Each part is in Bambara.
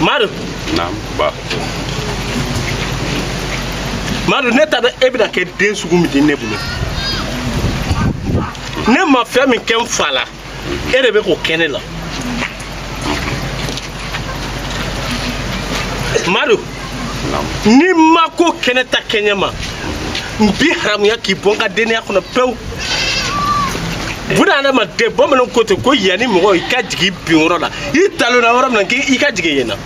Madu. Naamu ba. Madu ne t'a dɔn e bɛna kɛ den sugu min di ne bolo. Ne ma fɛn min kɛ n fa la. e de bɛ k'o kɛ ne la madu n'i ma ko kɛ ne ta kɛɲɛ ma n b'i haramuya k'i bɔ n ka denya kɔnɔ pewu buna adamaden bamananw ko ten ko yanni mɔgɔ i ka jigin bin yɔrɔ la i talonna yɔrɔ min na k'i ka jigin yen na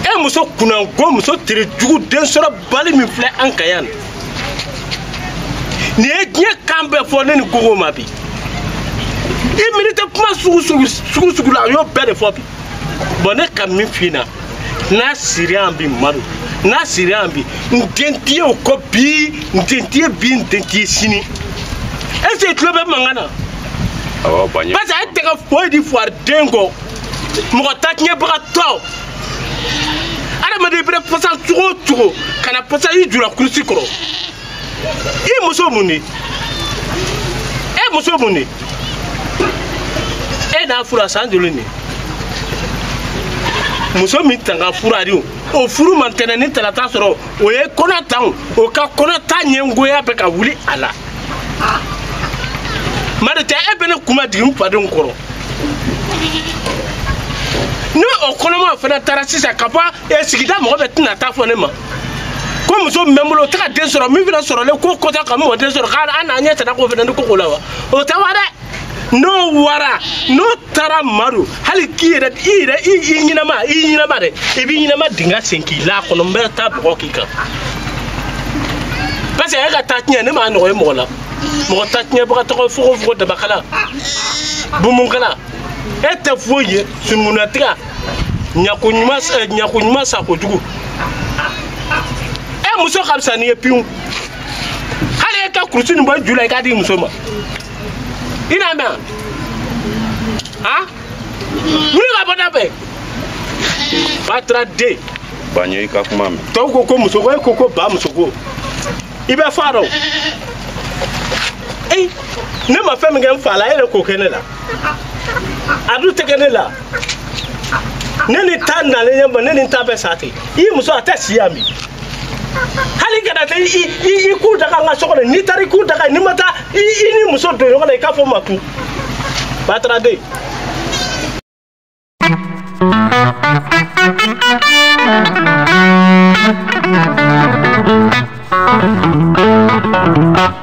e muso kunnango muso tere jugu densɔrɔbali min filɛ an kan yan nin ye diɲɛ kan bɛɛ fɔ ne ni gogo ma bi i miiri tɛ kuma sugu sugu la a y'o bɛɛ de fɔ bi bɔn ne ka min f'i na n'a sira yan bi madu n'a sira yan bi n den t'i ye o kɔ bi n den t'i ye bi n den t'i ye sini est ce que i tulo bɛ mankan na parce que e tɛ kɛ foyi di fuwariden kɔ mɔgɔ ta tiɲɛbagatɔ adamaden bɛna pasa cogo o cogo kana pasa i ju la kurusi kɔrɔ i muso mun de e muso mun de e n'a fura san joli de muso min tanga fura de o furu ma ntɛnɛn ni talata sɔrɔ o ye kɔnɔ ta o ka kɔnɔ ta ɲɛngoya bɛ ka wuli a la madu tɛ e bɛ ne kun majigin n fadenw kɔrɔ ni o kɔnɔma fana taara sisan ka bɔ e sigida mɔgɔ bɛɛ tɛna taa fɔ ne ma ko muso min bɛ n bolo o tɛ ka den sɔrɔ min fana sɔrɔlen ko kɔta ka mɔden sɔrɔ k'a n'a ɲɛ tana k'o fana ni koko la wa o tɛ wa dɛ n'o wara n'o taara madu hali k'i yɛrɛ i yɛrɛ i i ɲɛnama i ɲɛnama dɛ i b'i ɲɛnama dingɛ sen k'i la kɔnɔ n bɛ taa bɔgɔ k'i kan parce que e ka ta tiɲɛ ne m'a ɲɔgɔn ye mɔgɔ la mɔgɔ ta tiɲɛbagatɔ fogo fogo dabakala bumunkala e tɛ foyi ye sunukunatiga ɲako ɲuman eh, ɲako ɲuman sako jugu e muso ka fisa n'i ye pewu hali e ka kurusi nin bɔ i ju la i k'a di i muso ma i n'a mɛn a wuli ka bɔ da fɛ bataraden ba n ye i ka kuma mɛn tɔw ko ko musoko e ko ko ba musoko i bɛ fa dɔn ee ne ma fɛn min kɛ n fa la e yɛrɛ k'o kɛ ne la a dun tɛ kɛ ne la ne ni ta nalen ɲɛ ma ne ni ta bɛɛ sa ten i muso a tɛ si yan bi hali kana taa i k'u daga n ka so kɔnɔ n'i taara i k'u daga n'i ma taa i ni muso don ɲɔgɔn na i k'a fɔ makun bataraden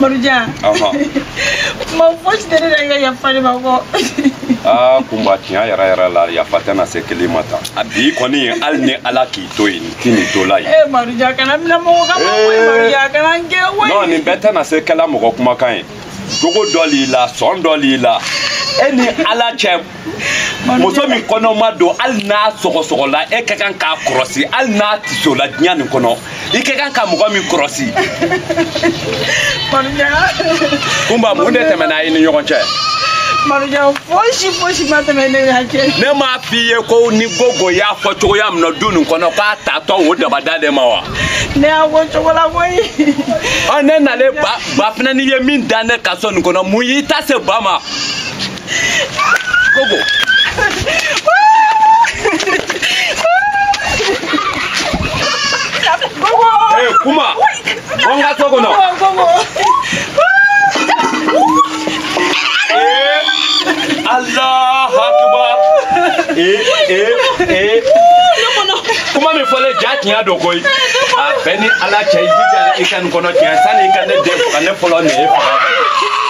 Marujan. Ɔhɔn. Ma fosi tɛ ne la i ka yafa ne ma kɔ. Aa kunba tiɲɛ yɛrɛ yɛrɛ la yafa tɛna se kelen ma tan. A bi kɔni hali ni Ala k'i to yen n ti nin to la yen. Ee Marujan kana n minɛ mɔgɔ kan ma koyi eh. Marujan kana n gɛn koyi. Non nin bɛɛ tɛna se kɛla mɔgɔ kumakan ye. Jogo dɔ l'i la sɔn dɔ l'i la e ni Ala cɛ muso min kɔnɔma don hali n'a sɔgɔsɔgɔla e ka kan k'a kɔrɔsi hali n'a tisola diɲɛ nin kɔnɔ i ka kan ka mɔgɔ min kɔrɔsi kunba mun de tɛmɛna i ni ɲɔgɔn cɛ marujan fosi fosi ma tɛmɛ ne n'a cɛ ne m'a f'i ye ko ni gogo y'a fɔ cogoya min na du nin kɔnɔ k'a taatɔ o dabada de ma wa ne y'a fɔ cogo la koyi ɔ ne nalen ba fana n'i ye min da ne ka so nin kɔnɔ mun y'i ta se ba ma Gogo. Eh, Kunba. Bɔ n ka so kɔnɔ. Eh, Allah akbar. Eh, eh, eh. Kuma min fɔlen jaa tiɲɛ don koyi. A bɛ e ni Ala cɛ i jija i kana n kɔnɔ tiɲɛ sani i ka ne den faga ne fɔlɔ nin ye faga.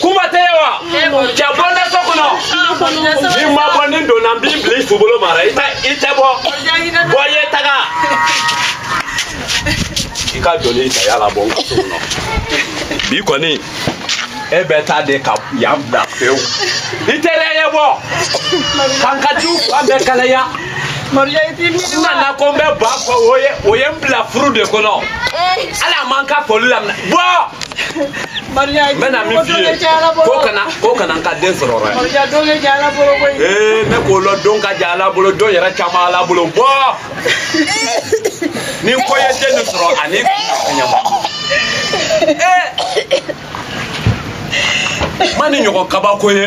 kuma t'e ye wa cɛ bɔ n da so kɔnɔ n'i ma bɔ ni donna n b'i bila i subolo mara i tɛ i tɛ bɔ bɔ ye taga i ka joli ta yala bɔ n ka so kɔnɔ bi kɔni e bɛ taa de ka yan bila pewu i tɛrɛ ye bɔ k'an ka du fan bɛɛ kalaya n nana ko n bɛ ba fo o ye o ye n bila furu de kɔnɔ ala ma n ka foli lamɛn bɔ. n bɛna min f'i ye ko kana ko kana n ka den sɔrɔ dɛ ee ne k'o lɔn don ka jan ala bolo don yɛrɛ caman ala bolo bɔ ni ko ye den nin sɔrɔ ani ɲama ee n ma nin ɲɔgɔn kabako ye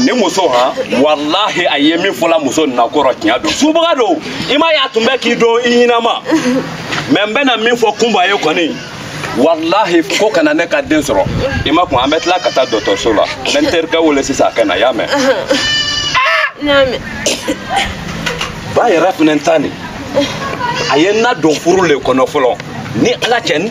ni muso han walahi a ye min fɔla muso nin na kɔrɔ tiɲɛ don subaga don i m'a ye a tun bɛ k'i dun i ɲɛnama mɛ n bɛna min fɔ kunba ye kɔni walahi ko kana ne ka den sɔrɔ i makun an bɛ tila ka taa dɔgɔtɔrɔso la n bɛ n terikɛ wele sisan a ka na i y'a mɛn ba yɛrɛ fana ta nin a ye n nadon furu le kɔnɔ fɔlɔ ni ala cɛ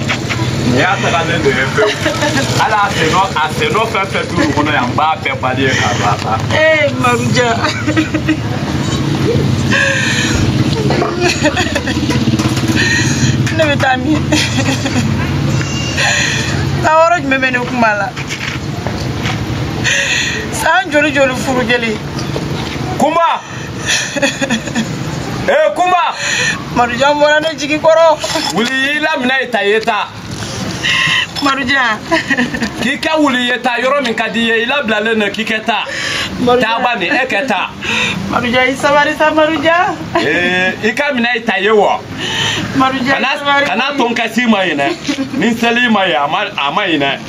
nin y'a tagalen de ye pewu hali a sen nɔ a sen nɔ fɛn fɛn to lu kɔnɔ yan n b'a bɛɛ bali ye k'a don a ta. ee maruja. ne bɛ taa min taa yɔrɔ jumɛn bɛ ne kunba la san joli joli furu jeli. kunba. ee kunba marujan bɔra ne jigi kɔrɔ wuli i la minɛ ye ta ye taa marujan k'i kɛ wuli ye taa yɔrɔ min ka di i ye i labilalen don k'i kɛ taa taa bani e kɛ taa marujan i sabari sa marujan ee i ka minɛ ye ta ye wa marujan i sabari kana to n ka si ma ɲinɛ ni seli ma ye a ma ɲinɛ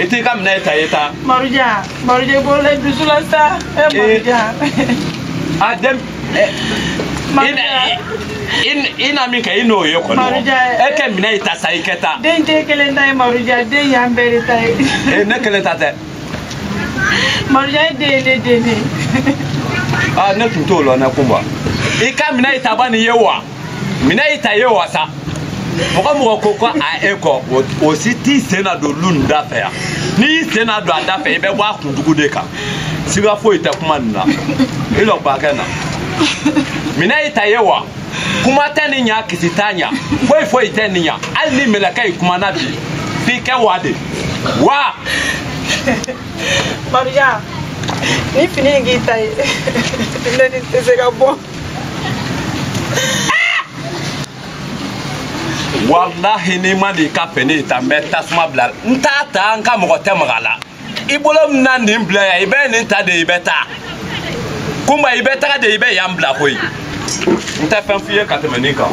i t'i ka minɛ ta i taa. maruja maruja i bolo la i dusu la sa ɛ eh, maruja. a den. Eh, i na min kɛ i n'o ye kɔni e kɛ minɛ i ta sa i kɛ taa. den t'e kelen ta ye maruja den y'an bɛɛ de ta ye. ee ne kelen ta tɛ. maruja ye den ye ne den de ye. aa ne tun t'o lɔn dɛ kunba i ka minɛ i ta bani ye wa. mina y'i ta ye wa sa mɔgɔ mɔgɔ ko ko a e kɔ o si t'i sen na don lu nin da fɛ yan n'i y'i sen na don a da fɛ i bɛ bɔ a kuntugu de kan siga foyi tɛ kuma nin na i lɔ bakɛ na mina y'i ta ye wa kuma tɛ nin ɲa kisi t'a ɲa foyi foyi tɛ nin ɲa hali ni mɛlɛkɛ y'i kuma na bi f'i kɛ wa de wa. Maruja, ni fini in k'i ta ye, ne ni tɛ se ka bɔ. walahi n'i ma n'i ka fini ta n bɛ tasuma bila n t'a ta n ka mɔgɔ tɛ maga a la i bolo min na nin bila yan i bɛ nin ta de i bɛ taa kunba i bɛ taga de i bɛ yan bila koyi n tɛ fɛn f'i ye ka tɛmɛ nin kan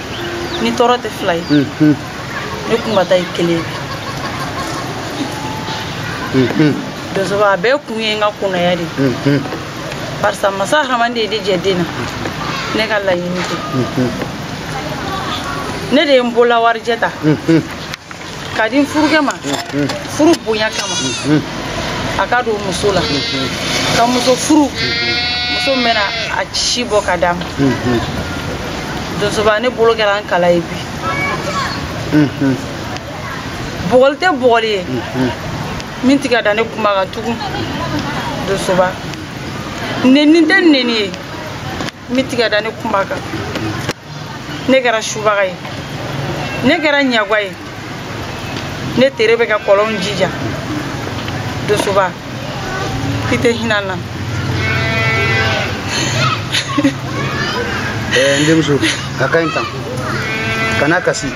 ne tɔɔrɔ tɛ fila ye ne kunba ta ye kelen ye donsoba a bɛɛ kun ye n ka kɔnaya de ye barisa masa rahamani de ye ne jɛ den na ne ka laɲini tɛ ne de ye n bolo la warijɛ ta k'a di n furukɛ ma furu bonya kama a k'a don muso la ka muso furu muso min bɛna a si bɔ ka d'a ma donsoba ne bolo kɛra n kala ye bi bugɔli tɛ bugɔli ye min tɛ ka da ne kunba kan tugun donsoba neni tɛ neni ye min tɛ ka da ne kunba kan ne kɛra subaga ye ne kɛra ɲagwa ye ne tere bɛ ka kɔlɔn ji ja dosoba i tɛ hinɛ n na eh, n denmuso a ka ɲi tan kana kasi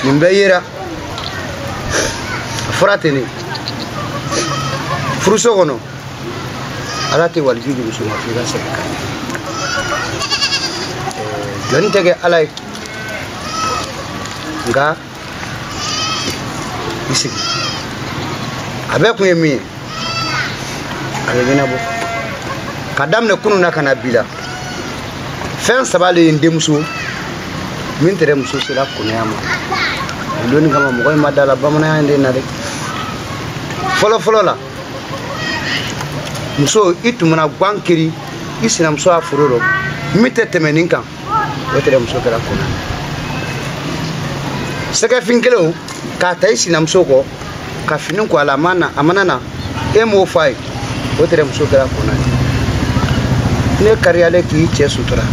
nin bɛɛ yera fura tɛ ne furuso kɔnɔ ala tɛ waliju jugu suma f'i ka segin kan jɔn tɛ kɛ ala ye nka i sigi a bɛɛ kun ye min ye a bɛ ɲɛnabɔ ka daminɛ kunu na ka na bi la fɛn saba de ye n denmuso min tɛrɛ muso sela kɔnaya ma o dɔnni kama mɔgɔ in ma da la bamananya in de na dɛ fɔlɔ fɔlɔ la muso i tun mana gan kiri i sinamuso ya foro rɔ min tɛ tɛmɛ nin kan o tɛrɛ muso kɛla kɔna ye sɛgɛfin kelen k'a ta i sinamuso kɔ ka fini ko a la a ma na a mana na e m'o fɔ a ye o tɛrɛ muso kɛla kɔna ye ne kariyalen k'i cɛ sutura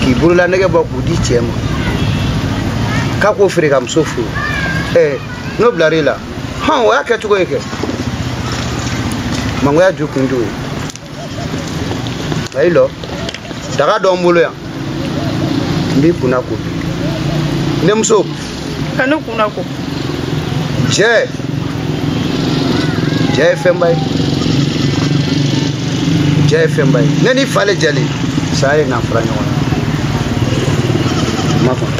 k'i bolola nɛgɛ bɔ k'u di cɛ ma k'a k'o feere ka muso furu ɛɛ n'o bilar'i la hɔn o y'a kɛ cogo ye kɛ mangoya ju kun d'o ye ba i lɔ daga don n bolo yan n b'i kunna ko n denmuso ka ne kunna ko jɛ jɛ ye fɛnba ye jɛ ye fɛnba ye ne n'i fa le jɛlen saya ye n'an fara ɲɔgɔn na ma faamu